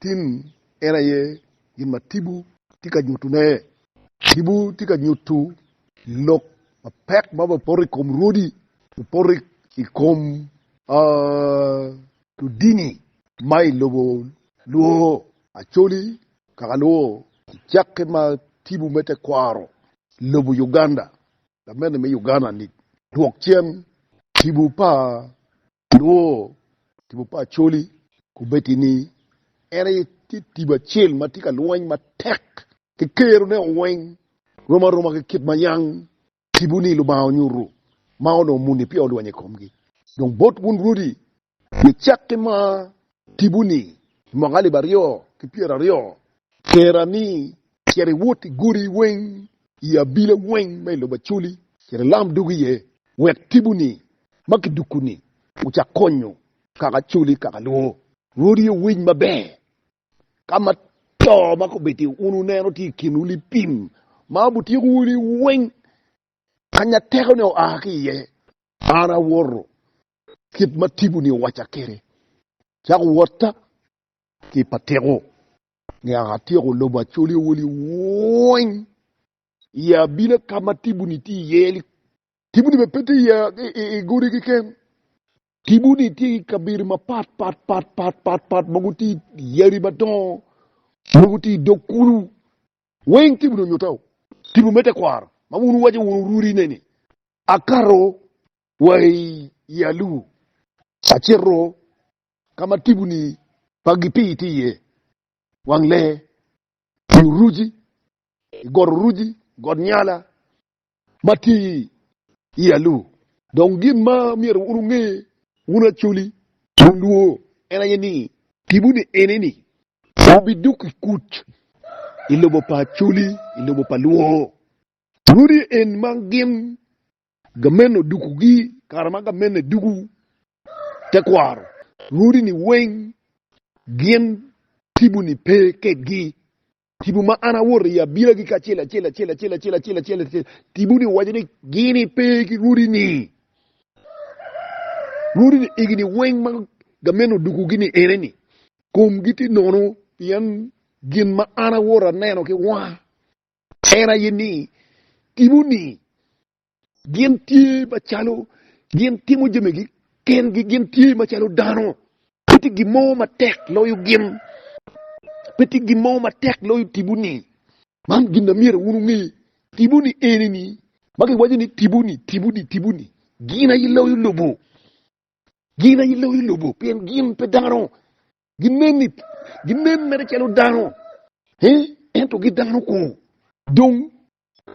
Tim en aye gin ma tipo tye ka nyutune. Tipo tye ka nyuto lok mapek ma opoto i kom rwodi, opoto i kom ludini ma i lobo lwongo Acholi, Kakalwo, Kicakke ma tipo me tekwaro lobo Uganda, Lamente me Uganda-ni, dwokcen tipo pa Nongo tipo pa Acholi kobedo ni en aye tye tipo acel ma tye ka lweny matek ki kerone weng, rom aroma ki kit ma yam tipo ni Lubanga onyuto ma onongo muni peya olweny i komgi. Dong bot wun Rwodi, gicak ki mar tipo-ni i mwaka alip aryo ki pyera aryo, kera ni cit iwot i godi weng, i abila weng ma i lobo Acoli, cit ilam dog iye, wek tipo-ni ma kiduku-ni ocak konyo kaka Acoli kaka luwo. Rwodi owiny maber ka ma to ma kobeddi wun wuneno tye i kinwu lipim ma abutyeko wunu weng kanya teko-ni oa ki iye. An awoto kit ma tipo-ni owacca kwede, Cako wotta ki i patiko, ngeya atyeko lobo acolewo liwony i abila ka ma tipo-ni tye iye-ni. Tipo-ni bene pe tye iye i godi keken. Tipo-ni tye i kabedo mapat pat pat pat pat pat mogo tye i yadi madongo, mogo tye i dog kulu. Weng tipo-ni onyutta-u. Tipo me tekwaro ma wun wuwaco wun orudine-ni, Akato wa i i alubu acito ka ma tipo-ni pa Gipii tye iye, wang lee, i Uruji, i got Uruji, got Nyala ma tye i i alubu. Dong gin ma myero wun wunge, wun Acholi, wun luo, en aye ni, tipo-ni ene-ni wubidoko i kuc i lobo pa Acholi, i lobo pa luo. Lwodi en ma gin gamente odukugi kare ma gamente duku tekwaro. Lwodi-ni weng gin tipo-ni pe kedgi. Tipo ma an awoto i abilagi kacel acel, acel acel, acel acel, acel acel, tipo-ni owaco ni gin-ni pe ki lwodi-ni. Lwodi-ni igi-ni weng ma gamente odukugi-ni ene-ni, komgi tye nono pien gin ma an awoto aneno ki wanga En aye ni, Timoni gin tye macalo gin timo jamigi kengi, gin tye macalo dano. Pe tye gin mo matek loyo gin, pe tye gin mo matek loyo timoni. Man gin amyero wun wunge, timoni eni-ni, ma giwaco ni timoni, timoni, timoni, gin aye loyo lobo, gin aye loyo lobo, pien gin pe dano. Gineni, ginen mere calo dano, ento gi dano kong. Dong,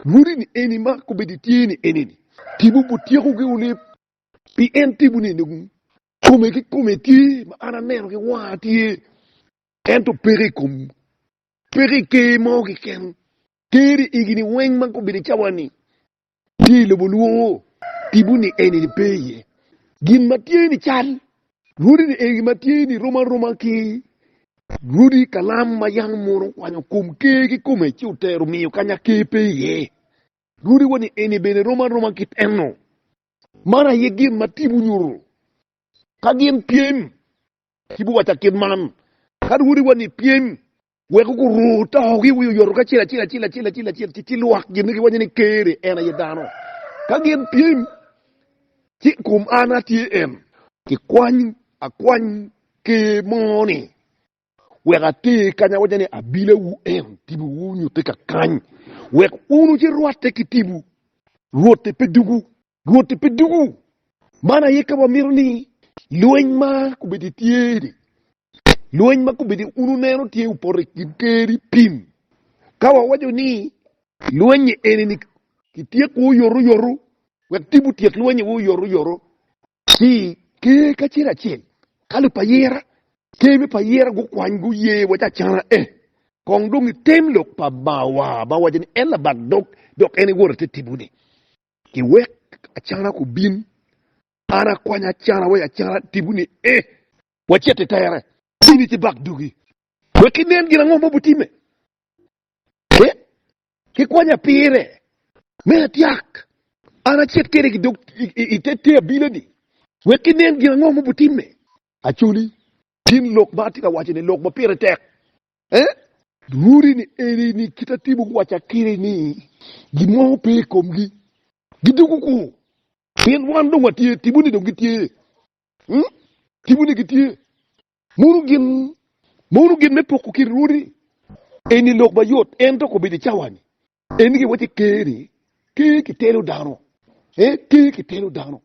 lwodini eni ma kobedo tye ni eneni, tipo bot tyekogi olib, pien tipo ni dong kome ki kome tye, ma an aneno ki wanga tye, ento peke i kom, peke i ker mo keken, ker i igi-ni weng ma kobedo cawa-ni, tye i lobo lwongo tipo ni en eni pe iye. Gin ma tye ni cal rwodi ni eni ma tye ni rom aroma ki rwodi kalam ma yam mono okwanyo kom ker kikome ci otero miyo kanya ker pe iye. Rwodi wa ni eni bene rom aroma kit eno. Man aye gin ma tipo nyuto. Ka gin pyem, tipo waca kit man, Ka rwodi wa ni pyem, Wek guru togi wi oyoto kacel acel acel acel acel acel ci ci lwak gin giwaco ni Ker-ri en aye dano. Ka gin pyem ci kum an atye en. Kikwany akwany Ker mo ni wek ater kany awaco ni abila wu en tibu wu nyute kakany wek unu ci rwatte ki tibu. Rwotte pe dugu. Rwotte pe dugu. Man aye ka wamito ni lweny ma kubedi tye ni Lweny ma kobedi un wuneno tye opoto i kin Ker-ri pin. Ka wawaco ni lweny eni-ni kityeko oyotoyoto wek tipo tyek lweny iwu oyotoyoto ci Ker kacel acel kalo pa ayera, Ker me pa ayera gukwany guye waci acana e kong dong i tem lok pa Bawa ma waco ni en labak dog dok en e Wota te tipo-ni. Ki wek acana kubin, an akwanya acana wek acana tipo ni e. wacit i tere. In itibak dugi wek inen gin ango ma obitimme, ci kikwanya pire me atyak. An acit kede ki dog i te abila-ni wek kinen gin ango ma obitimme. Acoli, gin lok ma atye ka waco-ni lok ma pire tek. Lwori ni eni ni kit atimo guwaca kede ni gin mo pe i komgi, gidoko kwo, pien wan dong watye, timoni dong gitye. Hmm? Timwu ni gitye. Mono gin, mono gin me poko kin rwodi. Eni lok mayot, ento kobedo i cawani. Eni gi wacce ker ni, ker ki telo dano. Eh, ker ki telo dano.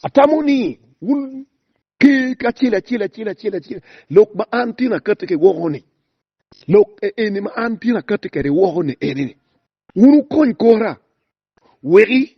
Atamo ni wun ker acel acel acel acel acel, lok ma an tyen akati ki woko ni, lok e eni ma an tyen akati kede woko ni eni ni, wun wukony kora weki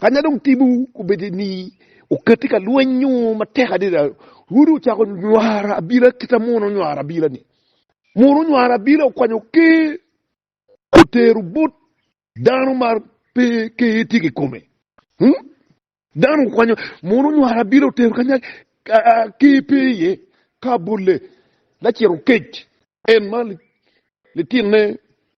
Kanya dong timwu obedo ni okatti ka lwenyo matek adada, rwodi ocako nywaro abila kit ma mono onywaro abila-ni. Mono onywaro abila okwanyo ker, otero bot dano ma pe ker tye kikome. Hmm? Dano okwanyo, mono onywaro abila otero kanya ker pe iye, ka bolle laciro kec, en ma litinne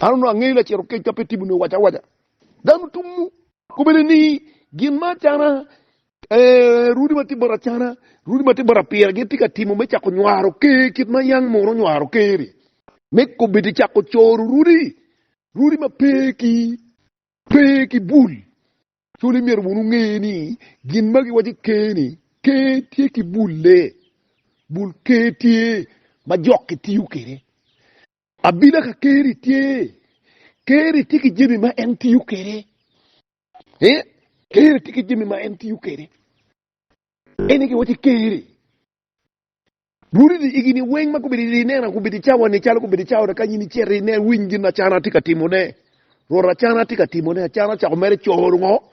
An onongo angeyo lacito kec ka pe timo nio waca awaca. Dano tumu. Kobene ni gin ma acana eh, runi ma tye bot acana, runi ma tye bot apira gin tye ka timo me cako nywaro ker kit ma yang munu nywaro ker-ri. Me kobedi cako coro runi, runi ma pe ki pe ki bul. Cul imyero wunu nge ni gin ma giwaci ker ni ker tye ki bulle. Bul ker tye ma jok ki tiyo kede. Abila ka Keri tye, Keri tye ki jami ma en tiyo kwede. Keri tye ki jami ma en tiyo kwede. Ene ki waci Keri. Rudi di igi ni weng ma gubedo di nena gubedo di cawa ni calo gubedo di cawa ka nyini cero di nen winy gin acana tye ka timo ne. Rwot acana tye ka timo ne acana cako mere coro ngo.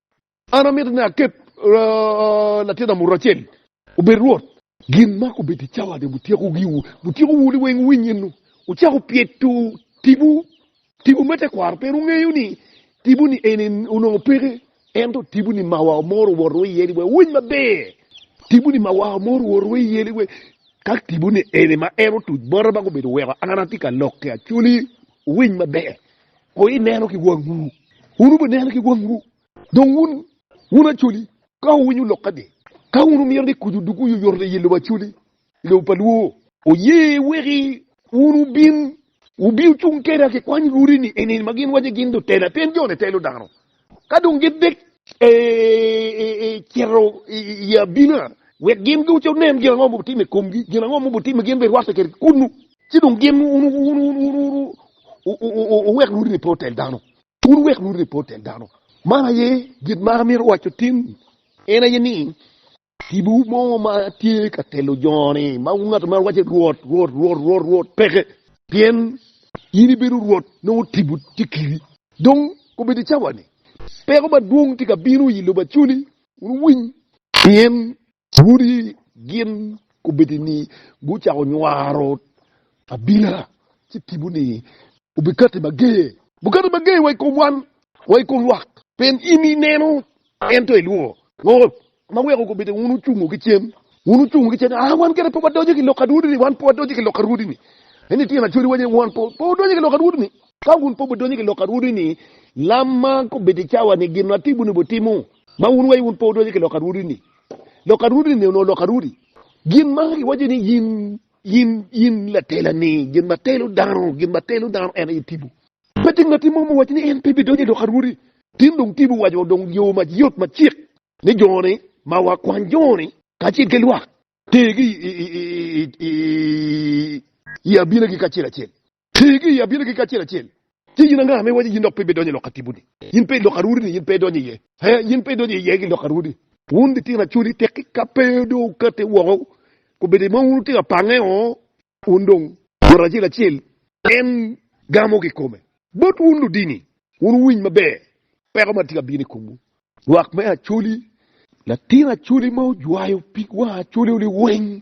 An amito ni aket latin amuto acel obed rwot. Gin ma kobedo i cawa ni wutyeko giwu, wutyeko wu ni weng winy enu, wucako pyeto tipo. Tipo me tekwaro pien wungeyo ni tipo ni eni onongo peke, ento tipo ni mawa omoro wot wa iye ni weng winy maber. Tipo ni mawa omoro wot wa iye ni weng ka tipo ni eni ma en otuc bota ma gubedo weko an atye ka lokke acoli winy maber. Kono ineno ki wangwu, wun wubineno ki wangwu. Dong wun, wun Acholi, ka wuwinyo lokka ni, ka wun wumito ni kuc odug oyoyoto i lobo Acholi, i lobo pa Lwor, wuye weki wun wubin, wubi wucung keda ki kwany rudi-ni, eni ma gin waco gin lutela, pien jo-ni telo dano. ka dong gidek ecito i abina, wek gin giwc onen gin ango ma obitimo i komgi, gin ango ma obitimo gin bene rwatte kede kunnu, ci dong gin wuwek rwodi ni pe otel dano, wun wuwek rwodi ni pe otel dano. Man aye gin ma amito waco tin, en aye ni, Tipo mo ma tye ka telo jo ni ma ngat ma wace Rwot, Rwot, Rwot, Rwot, Rwot peke. Pien in ibedo Rwot nongo tipo tye kiri. Dong kobedo i cawa-ni, peko madwong tye ka bino i lobo acoli, wuniwiny. Pien wodi gin kobedo ni gucako nywaro Abila ci tipo ni obikati mager. Bukati mager wa i kom wan, wa i kom lwak. Pien in ineno, ento ilworo. Lworo ma weko gubite wun wocungo ki cen, wun wocungo ki cen, aa, wan kene pe wadoco ki lok adwodini, wan pe wadoco ki lok adwodini. Ento ityen acwadiwa aye, wan pe wadonyo ki lok adwodini. Ka wun pe wudonyo ki lok adwodini, lam ma gubite cawa-ni, gin ma tipo-ni obitimo, ma wun iwaco wun pe wudonyo ki lok adwodini. Lok adwodini onongo lok adwodi. Gin ma iwaco ni yin In, in latela-ni, gin ma telo dano, gin ma telo dano en aye tipo. Pe tye ngatti mo muwaco ni en pe bidonyo i lok a Rwodi. Tin dong tipo owaco wa dong yo ma yot ma cik ni jo-ni ma wakwany jo-ni kacel ki lwak tergi i abinagi kacel acel. Ti ki i abinegi kacel acel. Ci in anga ma iwaco ni yin dok pe ibidonyo i lok atibu-ni? Yin pe i lok arwodi-ni, yin pe idonyo iye. Ee, yin pe idonyo iye ki lok arwodi. Wun litino acoli, tekki ka pe dong wukati woko, kobeddi i mo wun wutye ka pange oo, wun dong. Ngat acel acel en gamo kikome. Bot wun ludini, wun wuwiny maber peko ma tye ka bino i komwu. Lwak me acoli, latin acoli ma ojwayo pig wang acoli-ni weng.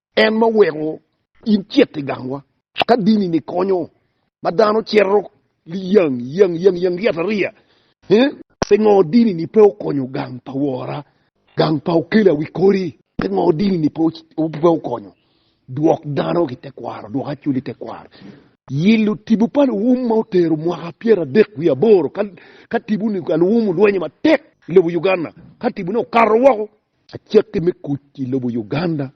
En ma oweko in cit i gangwa. Ka dini-ni konyo ma dano cito liyang yang yang yang yatariya, pingo dini-ni pe okonyo gang pa wora, gang pa okela wi kodi? Pingo dini-ni pe okonyo dwok dano ki tekwaro, dwok acul i tekwaro? Yilo tibu pa luwum ma otero mwaka pyeradek wiye aboro ka tibu-ni ka luwum olwenyo matek i lobo Uganda, ka tibu-ni okato woko Acakki me kuc i lobo Uganda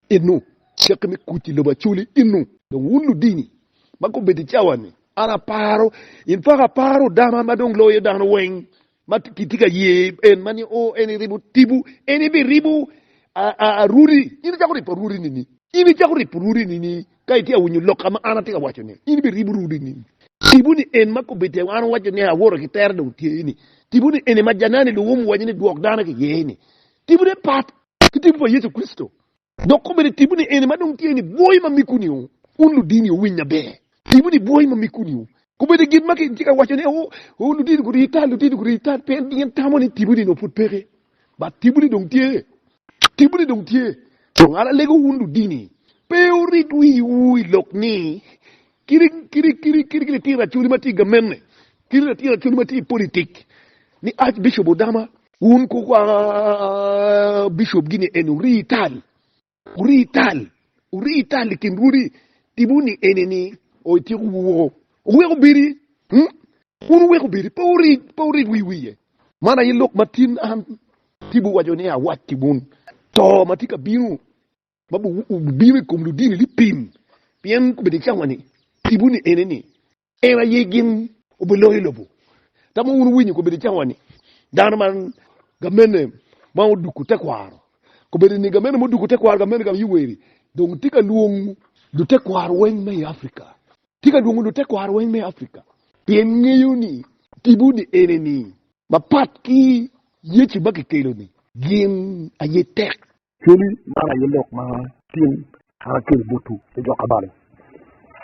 inu, acakki me kuc i lobo Acholi inu. Dong wun ludini ma gubedo i cawa-ni, an aparo, in paka aparo dama ma dong loyo dano weng ma kitye ka ye en ma nio en iribo tibu, en ibiribo Arudi. In icako ribo Arudi nini? In icako ribo Arudi nini? Ka itye ka winyo lok ka ma an atye ka waco-ni, in bene iribo rudu i ngec. Tipo ni en ma kobedde wa, an awaco ni, Awoto ki tere dong tye ni. Tipo ni eni ma janani luwum waco ni Dwok dano ki iye ni, tipone pat ki tipo pa Yecu Kricito. Dok kobedde tipo ni eni ma dong tye ni, Bwoyo ma mikuni o, wun ludini wuwiny maber. Tipo ni Bwoyo ma mikuni o. Kobedde gin ma kitye ka waco ni, O, o, ludini guriyo tal, ludini guriyo tal, pien gin tamo ni tipo ni onongo pud peke. But tipo ni dong tye, tipo ni dong tye. Dong an alego wun ludini, pe wurit wiwu i lok ni, kiri, kiri, kiri, kiri, kiri tira coli ma tye i gamenne, kiri na tira coli ma tye i politik, ni Archbishop Odama, wun ku, ah, Bishop gi ni en ori tal, Wurii tal, wurii tal i kin rwodi, tibu ni eni ni o ityeko woko, owek obedi, wun owek obedi, pe wurid, pe wurid wi wiye. Man aye lok ma tin an tibu waco ni awac ki wun, to ma tye ka bino, ma bubino i kom ludini lipim, pien kobedo i cawa ni, tibu ni eni ni, En aye gin obeloko i lobo. Tamo wun winyo kobedo cawa ni dano man gamene ma oduko tekwaro kobedo ni gamene ma oduko tekwaro gamene gam yuweri dong tye ka lwongo lutekwaro weng me i Afrika tye ka lwongo lutekwaro weng me Afrika pien ngeyo ni tipo ni ene ni mapat ki Yecu ma kikelo ni gin aye tek. Cwali man aye lok ma Tim twero kelo botwu ki jo kabalo.